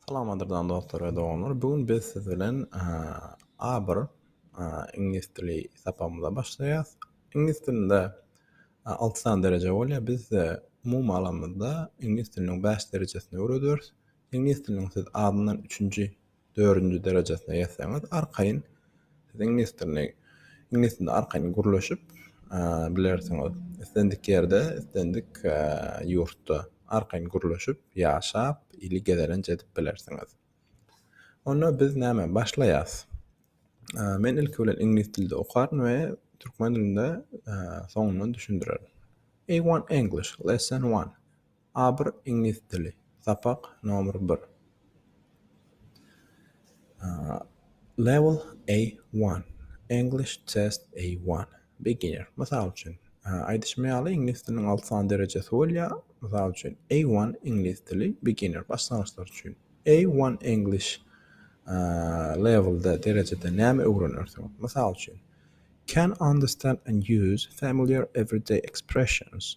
Salamadyrdan dostlar we doganlar. Bu gün biz siz bilen A1 iňlis dili sapagymyza başlaýarys. Iňlis dilinde 6 sany dereje bolýar. Biz size umumy alanymyzda iňlis diliniň 5 derejesini öwredýäris. Iňlis diliniň siz azyndan 3-nji dördünji derejesine ýetseňiz arkaýyn siz iňlis dilini iňlis dilinde arkaýyn gürleşip bilersiňiz islendik ýerde islendik ýurtda arkaýyn gürleşip ýaşap ili gezelenç edip bilersiňiz onda biz näme başlaýas men ilki bilen iňlis dilde okaryn we türkmen dilinde soňundan düşündirerin a1 english lesson one A bir iňlis dili sapak nomer bir Level A one English test A one Beginner Mysal üçin aýdyşym ýaly iňlis diliniň alty sany derejesi bolýar mysal üçin A one iňlis dili beginner başlangyçlar üçin A one English levelda derejede näme öwrenersiň mysal üçin Can understand and use familiar everyday expressions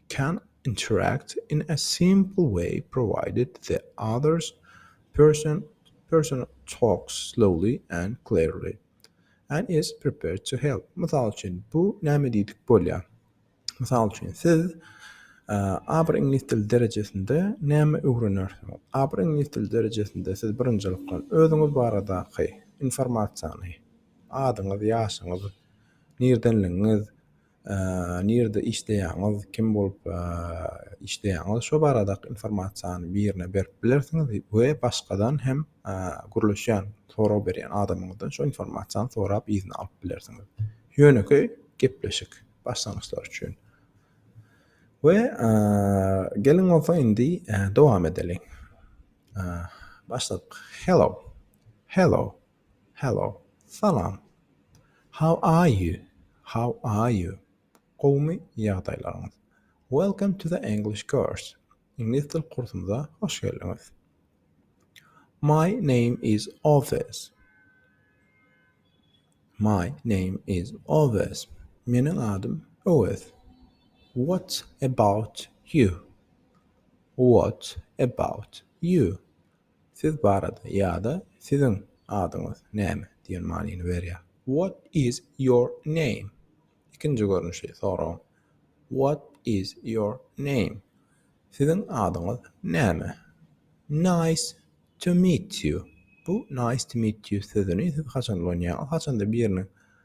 can interact in a simple way provided the other person talks slowly and clearly and is prepared to help. Mysal üçin, bu näme diýdik bolýar? Mysal üçin, siz aber iňlis dili derejesinde näme öwrenersiňiz? Aber iňlis dili derejesinde siz birinjilikden özüňiz baradaky informasiýany, adyňyz, ýaşyňyz, nirdenligiňiz, nirde işleýäňiz, kim bolup işleýäňiz şo baradaky informasiýany birine berip bilersiňiz we başgadan hem gürleşýän, sorag berýän adamyňyzdan şu informasiýany sorap yzyna alyp bilersiňiz. Ýönekeý gepleşik başlangyçlar üçin. We geliň bolsa indi dowam edeliň. Başladyk. Hello. Hello. Hello, Salam, How are you, How are you, Gowumy ýagdaýlaryňyz? Welcome to the English course, Iňlis dil kursumyza hoş geldiňiz. My name is Owes, My name is Owes, Meniň adym Owes. What about you, What about you, Siz barada ýa-da Siziň adyňyz näme? diýen manyny berýär. What is your name? Ikinji görnüşi soragyň. What is your name? Siziň adyňyz näme? Nice to meet you. Bu nice to meet you sözüni siz haçan ulanýaňyz? Haçanda biriniň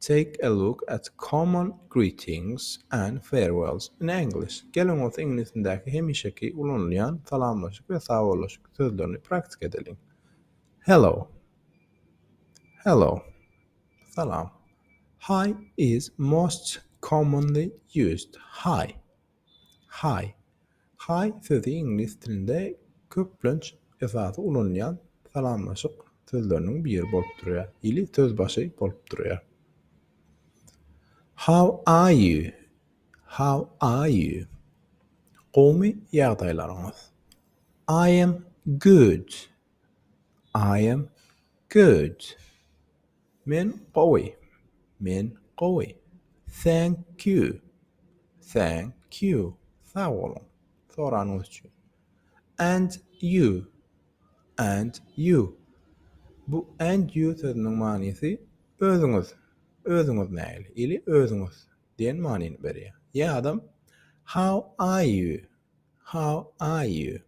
Take a look at common greetings and farewells in English, Geliň bolsa iňlisindäki hemişeki ulanylýan salamlaşyk we sawollaşyk sözlerini praktika edeliň. Hello Hello, Salam. Hi is most commonly used. Hi. Hi, Hi sözi iňlis dilinde köplenç esasy ulanylýan salamlaşyk sözleriniň biri bolup durýar, ili sözbaşy bolup durýar. How are you? How are you? Gowmy ýagdaýlaryňyz? I am good. I am good. Men gowy. Men gowy. Thank you. Thank you. Sag boluň. Soranyňyz üçin. And you. And you. Bu and you sözüniň manysy özüňiz. Özüňiz nähili? Ili özüňiz diýen manyny berýär. Ýa-da How are you? How are you?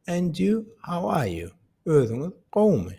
And you, how are you? Özüňiz gowumy?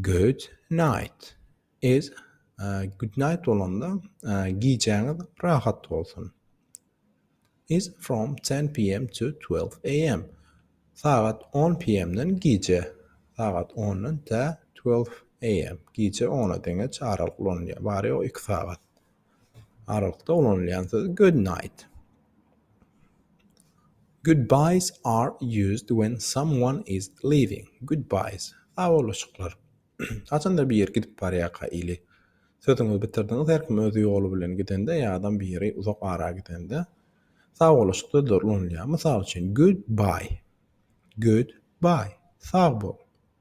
Good night is Good night bolanda gijäňiz rahat bolsun. Is from ten PM to twelve AM. Sagat on PM-den gije. Sagat ondan tä twelve AM. Gije ona deňeç aralyk ulanylýar. Bary ýogy iki sagat. Aralykda ulanylýan söz good night. Goodbyes are used when someone is leaving. Goodbyes. Sagbolushyklar. Haçanda bir ýer gidip barýarka ili sözüňizi bitirdiňiz, her kim öz ýoly bilen gidende ýa adam bir ýere uzak ara gidende sagbolushuk sözleri ulanylýar. Mysal üçin, goodbye. Goodbye. Sag bol.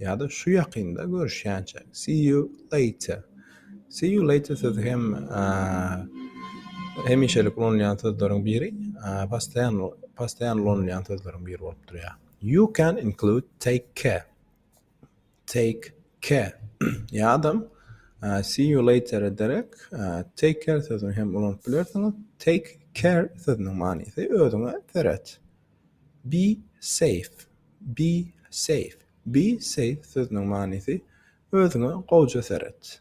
Ýa-da şu ýakynda görüşýänçäk. See you later. See you later sözi hem hemişelik ulanylýan sözleriň biri, postaýan postaýan ulanylýan sözleriň biri bolup durýar. You can include take care. Take care. Ýa-da see you later ederek take care sözüni hem ulanyp bilersiňiz. Take care sözüniň manysy özüňe seret. Be safe, be safe, be safe sözüniň manysy Özüňe gowja seret.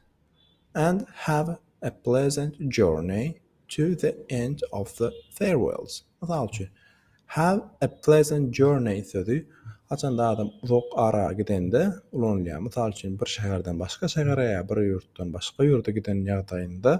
And have a pleasant journey to the end of the farewells. Mysal üçin, Have a pleasant journey sözi haçanda adam uzak ara gidende ulanylýar. Mysal üçin, bir şäherden başga şähere ýa bir ýurtdan başga ýurda giden ýagdaýynda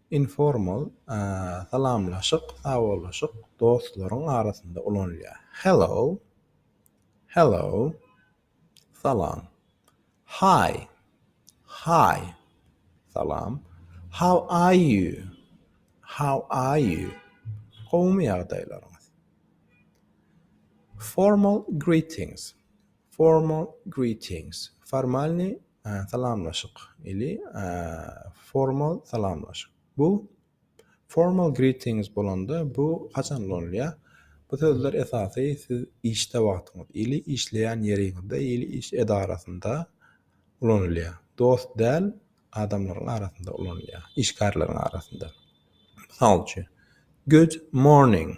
Informal, salamlaşyk, sawollaşyk, dostlaryň arasynda ulanylýar. Hello, Hello, salam. Hi, Hi, salam. How are you, How are you, gowumy ýagdaýlaryňyz. Formal greetings. Formal greetings, formalnyý salamlaşyk, ili formal salamlaşyk. Bu Formal greetings bolanda bu haçan ulanylýar? Bu sözler esasy siz işde wagtyňyz ili işleýän ýeriňizde ili iş edarasynda ulanylýar. Dost däl adamlaryň arasynda ulanylýar, işgärleriň arasynda. Mysal üçin, Good morning.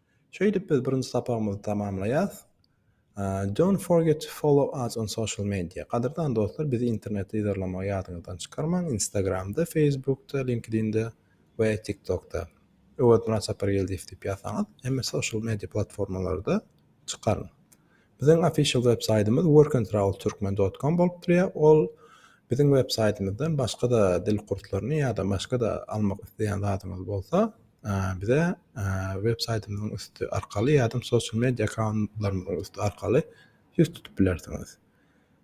Şeýdip biz birinji sapagymyzy tamamlaýas. Don't forget to follow us on social media. Gadyrdan dostlar bizi internetde yzarlamagy ýadyňyzdan çykarmaň, Instagramda, Facebookda, LinkedIn'de we TikTokda. Öwezmyrat Sapargeldiýew diýip ýazsaňyz hemme social media platformalarda çykaryn. Biziň official web saýtymyz workandtravelturkmen dot kom bolup durýar. Ol biziň web saýtymyzdan başga-da dil kurslaryny ýa-da başga-da almak isleýän zadyňyz bolsa, bize web saýtymyzyň üsti arkaly ýa-da social media akkauntlarymyzyň üsti arkaly ýüz tutup bilersiňiz.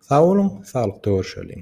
Sag boluň, saglykda görşeliň!